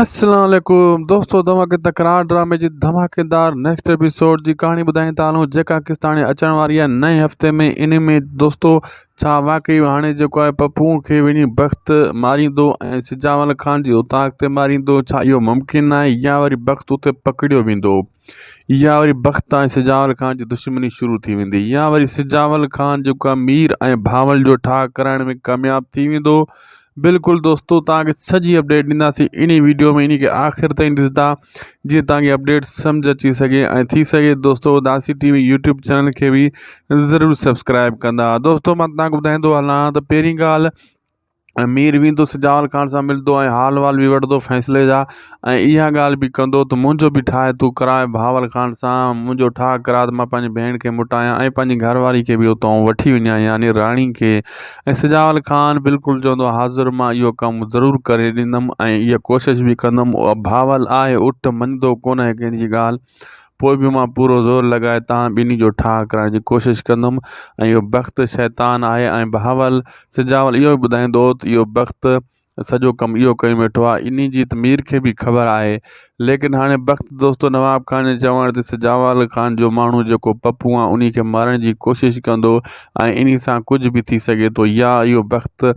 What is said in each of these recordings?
السلام عليڪم دوستو توهان کي تڪرار ڊرامي جي ڌماڪيدار نيڪسٽ ايپيسوڊ جي ڪهاڻي ٻڌائين ٿا هلون جيڪا قسط هاڻي اچڻ واري آهي نئين هفتي ۾ ان ۾ دوستو ڇا واقعي هاڻي جيڪو آهي پپو کي وڃي بخت ماريندو ۽ سجاول خان جي اتاق تي ماريندو ڇا اهو ممڪن آهي يا وري بخت اتي پڪڙيو ويندو يا وري بخت ۽ سجاول خان جي دشمني شروع ٿي ويندي يا وري سجاول خان جيڪو آهي مير ۽ ڀانول جو ٺاهه ڪرائڻ ۾ ڪامياب ٿي ويندو بلڪل دوستو توهان کي سڄي اپڊيٽ ڏينداسين انهي ويڊيو ۾ انهي کي آخر تائين ڏسندا جيئن توهان کي اپڊيٽ سمجھ اچي سگهي ۽ ٿي سگهي دوستو Adasi T V YouTube channel کي به ضرور سبسڪرائب ڪندا دوستو مان توهان کي ٻڌائيندو هلان ته پهرين ڳالهه امير ويندو سجاول خان سان ملندو ۽ حال وحال بي وٺدو فيصلي جا ۽ اها ڳالهه به ڪندو ته منهنجو به ٺاهه تون ڪراء بهاول خان سان منهنجو ٺاهه ڪراء ته مان پنهنجي ڀيڻ کي مٽايان ۽ پنهنجي گهر واري کي به اتان وٺي وڃان يعني راڻي کي ۽ سجاول خان بلڪل چوندو حاضر مان اهو ڪم ضرور ڪري ڏيندم ۽ اها ڪوشش به ڪندم بهاول آهي اٺ مڃدو ڪونه ڪنهن جي ڳالهه پوء به مان پورو زور لڳائي توهان ٻنهي جو ٺاهه ڪرائڻ جي ڪوشش ڪندم ۽ اهو بخت شيطان آهي ۽ بهاول سجاول اهو ئي ٻڌائيندو ته اهو بخت سڄو ڪم اهو ڪيو ويٺو آهي انهي جي ته مير کي به خبر آهي ليڪن هاڻي بخت دوستو نواب خان جي چوڻ تي سجاول خان جو ماڻهو جيڪو پپو آهي انهي کي مارڻ جي ڪوشش ڪندو ۽ انهي سان ڪجهه به ٿي سگهي ٿو يا اهو بخت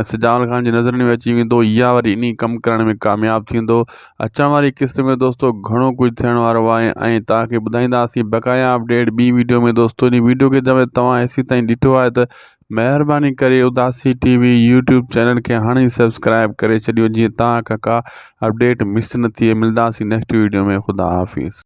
اسي جمال خان جي نظرن ۾ اچي ويندو يا وري انهي ڪم ڪرڻ ۾ ڪامياب ٿيندو اچڻ واري قسط ۾ دوستو گهڻو ڪجهه ٿيڻ وارو آهي ۽ توهان کي ٻڌائينداسين بقايا اپڊيٽ ٻي ويڊيو ۾ دوستو انهي ويڊيو کي جڏهن توهان ايسي تائين ڏٺو آهي ته مهرباني ڪري Adasi T V YouTube channel کي هاڻي ئي سبسڪرائيب ڪري ڇڏيو جيئن توهان کان ڪا اپڊيٽ مس نه ٿئي ملداسين نيڪسٽ ويڊيو ۾ خدا حافظ